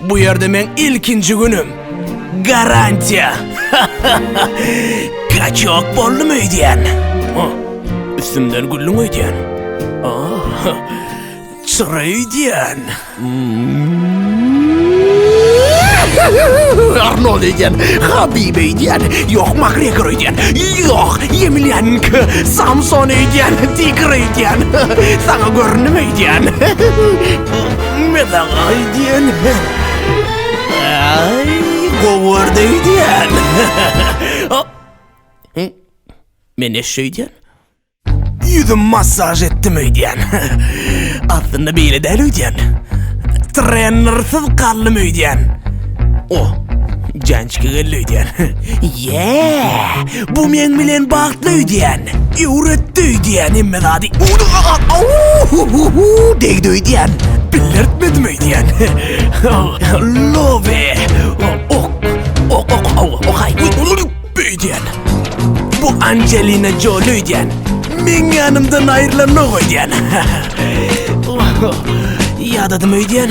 Bu ýerde meň ilkinji günüm. Garantiýa. Kaçok boldum öýdýän. Üstümden güllüň öýdýän. Çyra öýdýän. Arnold öýdýän, Habib öýdýän, ýok Makgregor öýdýän, ýok Ýemilýanki, Samson öýdýän, Tigr öýdýän. Saňa göründimi öýdýän? Nime saňa diýen? Ay, gowar diýen. Men ne şeýdýän? Ýüzüm massaj etdim öýdýän. Aslynda beýle däl öýdýän. Trenersiz galdym öýdýän. O, jançka geldi öýdýän. Ýee! Bu meň bilen bagtly öýdýän. Öwretdi öýdýän hemme zady. Au-hu-hu-hu-hu! Degdi öýdýän. Bildirtmedim öýdýän. Lobe! Ok! Ok, ok, au, ok-aý! Öýdýän. Bu Anjelina Joli öýdýän. Meň ýanymdan aýrylanok öýdýän. Ýadadym öýdýän.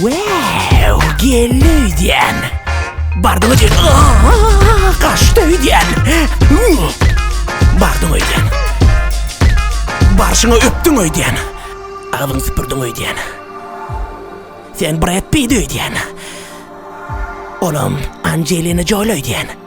Wow, geldi öýdýän. Bardyň öýdýän. Gaçdy öýdýän. Bardyň öýdýän. Barşyňa öpdüň öýdýän. Agzyň süpürdiň öýdýän. Sen Brad Pitt öýdýän. Olam Angelina Jolie öýdýän.